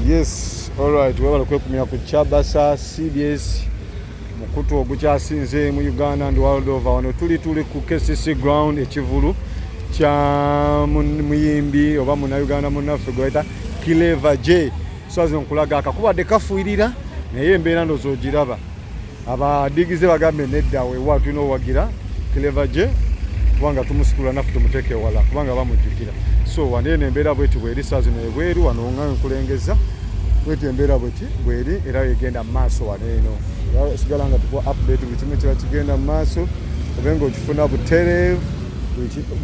Yes, alright, webale kwekumira ku Kyabasa CBS mukutu ogukyasinze mu Uganda and world over. Wano tuli tuli ku KCC ground ekivulu kya muyimbi oba muna Uganda munaffe gweta Clever J. Swazi nkulaga akakubadde kafuirira naye embeera ndozo ogiraba. abadigize bagambe nedda wewa tulina owagira clever je kubanga tumusitula naffe tumuteeka ewala kubanga bamujjukira so wano eno embeera bweti bweri saa zino ebweru wano nga nkulengeza bweti embeera bweti bweri era egenda mu maaso wano eno sigala nga tukuwa update buli kimu kiba kigenda mu maaso obe nga okifuna butereevu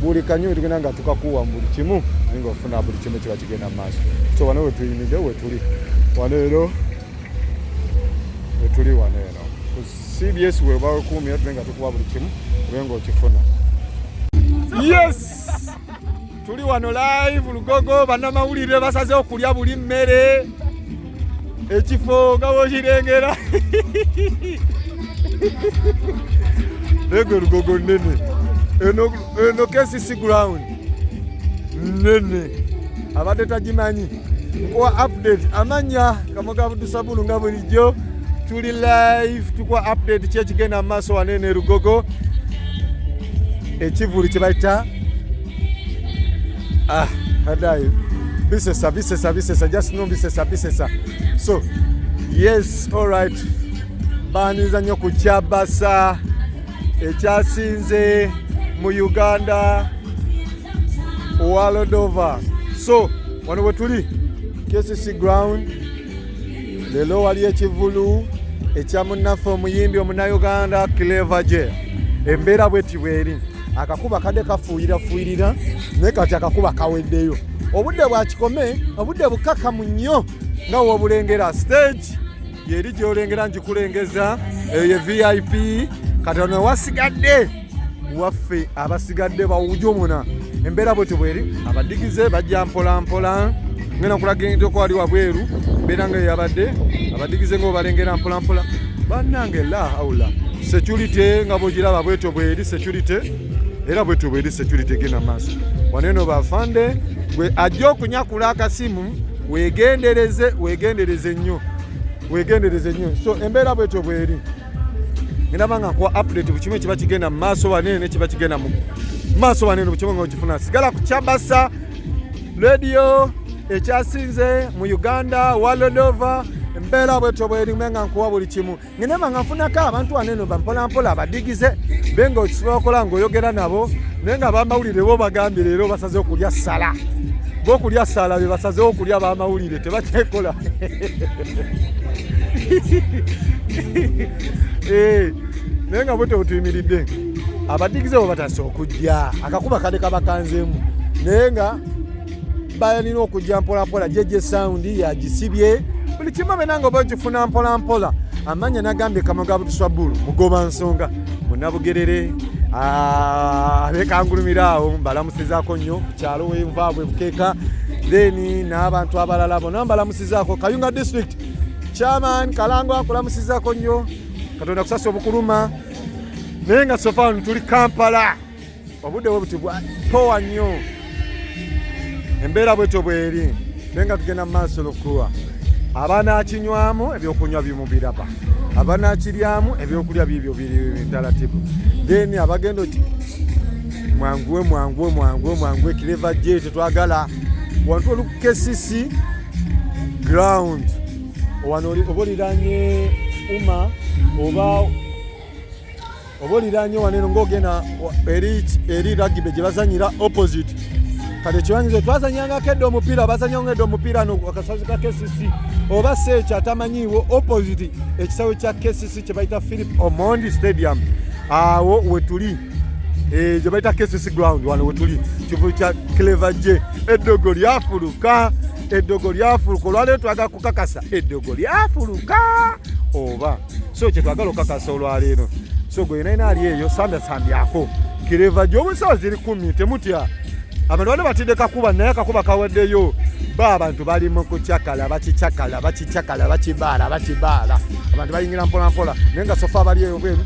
buli kanyo wetugenda nga tukakuwa mu buli kimu naye nga ofuna buli kimu kiba kigenda mu maaso so wano wetuyimidde wetuli wano ero wetuli wano eno ku cbs webakuumira tube nga tukuba buli kimu ube nga okifuna yes tuli wano live lugogo bannamawulire basaze okulya buli mmere ekifo nga bwokirengera ego lugogo nene eno kcc ground nene abadde tagimanyi nkuwa update amanya kamoga abudusabulu nga bulijjo tuli live tukuwa update kyekigenda mu maaso wanene erugogo ekivulu kyebayita ah, adayo bisesa bisesa bisesa just no bisesa bisesa so yes all right banyiza nnyo ku kyabasa ekyasinze mu uganda walodova so wano wetuli kcc ground leero wali ekivulu ekya munnaffe omuyimbi omunayuganda cleva je embeera bweti bweri akakuba kadde kafuuyirafuuyirira naye kati akakuba kaweddeyo obudde bwakikome obudde bukakamu nnyo nga wobulengera stage yeri gyolengera ngikulengeza eyo ye vip kati ono wasigadde waffe abasigadde bawujomuna embeera bwe tibweri abadigize bajja mpolampola ngenda kulagendeko wali wabweru mbeera nga yeyabadde abadigize nga obalengera mpolampola bannange la haula security nga bwogiraba bwetyo bweri security era bwetyo bweri security genda maaso waneno bafande gwe ajja okunyakula akasimu wegendereze wegendereze nnyo wegendereze nnyo so embeera bwetyo bweri ngenaba nga nkuwa update buli kimu ekiba kigenda mu maaso wanene nekiba kigenda mu maaso wanene buli kimu nga okifuna sigala ku kyabasa radio ekyasinze mu uganda walodova embeera bwetyo bwerimu nga nkuwa buli kimu ngenema nga nfunako abantu waneno bampolampola abadigize be nga okisobola okola ngaoyogera nabo naye nga bamawulire bo bagambye leero basaze okulya sala bokulya sala be basazewo okulya bamawulire tebakyekola Eh, naye nga bwete butuyimiridde abadigize bwe batasa okujja akakuba kade kabakanzemu naye nga balina okujja mpolampola jeje saundi yagisibye buli kimu abena nga oba okifuna mpolampola amanya nagambye kamwe ga butuswa bulu mugoba nsonga munabugerere ah, abekangulumira awo mbalamusizako nnyo kukyalo wenvaabwe bukeeka then n'abantu abalala bona mbalamusi Zako Kayunga District Chairman Kalango akulamusizako nnyo Katonda kusasa obukuluma naye nga sofa tuli Kampala obudde bwe buti bwatowa nnyo embeera bwetyo bweri naye nga tugenda mu maaso lukuwa abanakinywamu ebyokunywa bimubiraba abanakiryamu ebyokulya bibyo biri bitalatibu then abagenda oti mwanguwe mwanguwe mwanguwe mwanguwe kireva je tetwagala wantu kcc ground wano oba oliranye uma oba oba oliranye wano eno ngaogenda eri ragibe gye bazanyira opposite kati ekiwanyizo twazanyangako edda omupiira bazanyanga edda omupiira no akasazi ka kcc oba si ekyo atamanyiiwo opposite ekisawe kya kcc kye bayita philip omondi stadium awo wetuli gye bayita KCC ground wano wetuli kivulu kya Clever J eddogo lyafuluka eddogo lyafuluka olwaleero twagala kukakasa eddogo lyafuluka oba so kyetwagala okukakasa olwaleero so gwe yena yina ali eyo sambyako Clever J obusawa ziri kumi temutya abantu bano batidde kakuba naye akakuba kawaddeyo ba abantu bali mu kucakala bakicakala bakicakala bakibaala bakibaala abantu bayingira mpolampola naye nga sofa abali eyo bwenu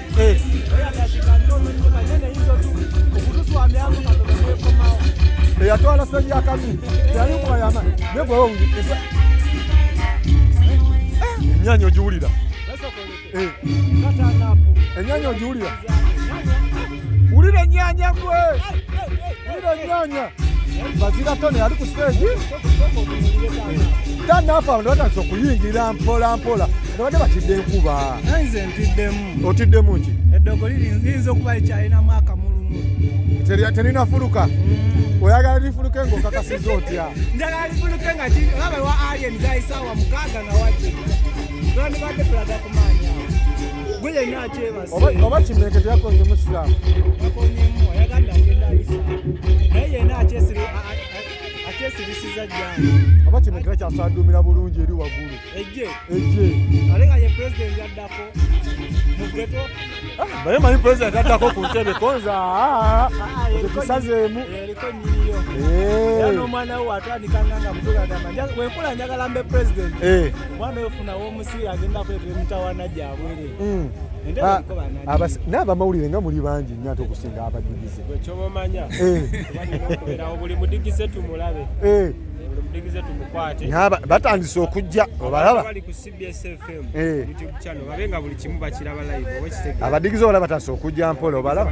eyatwala senya akabi yali mwayama negwewonge enyanya ogiwulira enyanya ogiwulira wulira enyanya gwe wulira enyanya bazira tone ali ku stage tanafa abantu batandise okuyingira mpola mpola nabadde batidde enkuba nze ntiddemu otiddemu ki eddogo liyinza okuba likyalinamu akamulumu terinafuluka mm. oyagala lifuluke ngaokakasiza otya njagala lifuluke nga laba wa alien zaisaawa mukaaga nga wajja lwandibadde tulaga kumaanya gwe yenna akyebase oba kimenke teyakonye musiraamu akonyemu ayaganda agenda ayisa naye yenna akyesire akyesirisiza jjangu aba kino kira kyasaduumira bulungi eri waggulu ejje ejje ate nga ye pulezidenti addako mugeto ah, naye manyi pulezidenti addako ku ntebe konza ah, ah, ekisazeemu eriko nyiriyo era n'omwana we watandika nga nga mutuga agamba wenkula njagala mbe pulezidenti eh. omwana oyo funawo omusibe agenda kwetera emitawana gyabwere mm. ah, n'abamawulire nga muli bangi nyo ate okusinga abadigize batandise okujja obalaba eh. abadigize obalaba batandise okujja mpola obalaba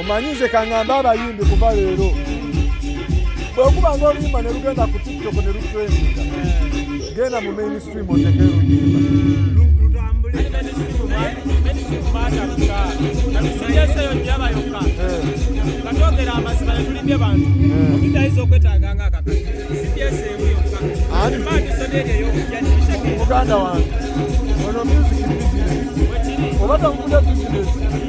omanyi nze kang'ambe abayimbi kuva leero bwekuba nga oluyimba ne lugenda ku tiktok ne lutrendinga genda mu mainstream oteke oluyimba muganda wange ono music business oba tamukuda business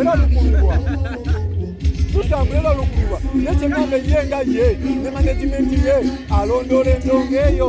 era lukululwa tutambula era lukululwa naye kyegamba ye nga ye ne managimenti ye alondoola endongo eyo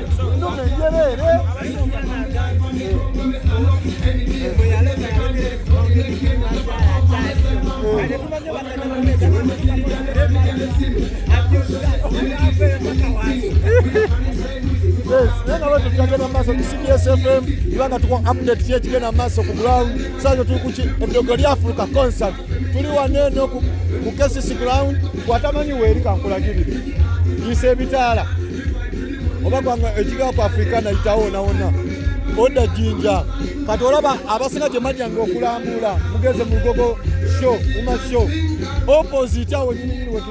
tugenda maaso ku cbs fm ibanga tuko update kyekigenda maaso ku ground sayo tuli kuki eddogo lyafuluka concert tuli wano eno ku kesisi ground watamanyi weeri kankulagirire yisa ebitaala oba gwanga ekigaa ku afirika nayitawo onawona odda jinja kati olaba abasinga gye majjanga okulambula mugeze mu lugogo sho uma sho opposite awo nyininyini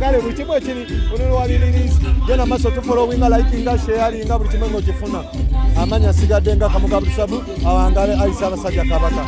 kale buli kimu ekiri olulwaliririzi genda maaso tufolowinga likinga sheyalinga buli kimu ng'okifuna amanya asigadde nga kamugabusabu awangale ayisa abasajja kabaka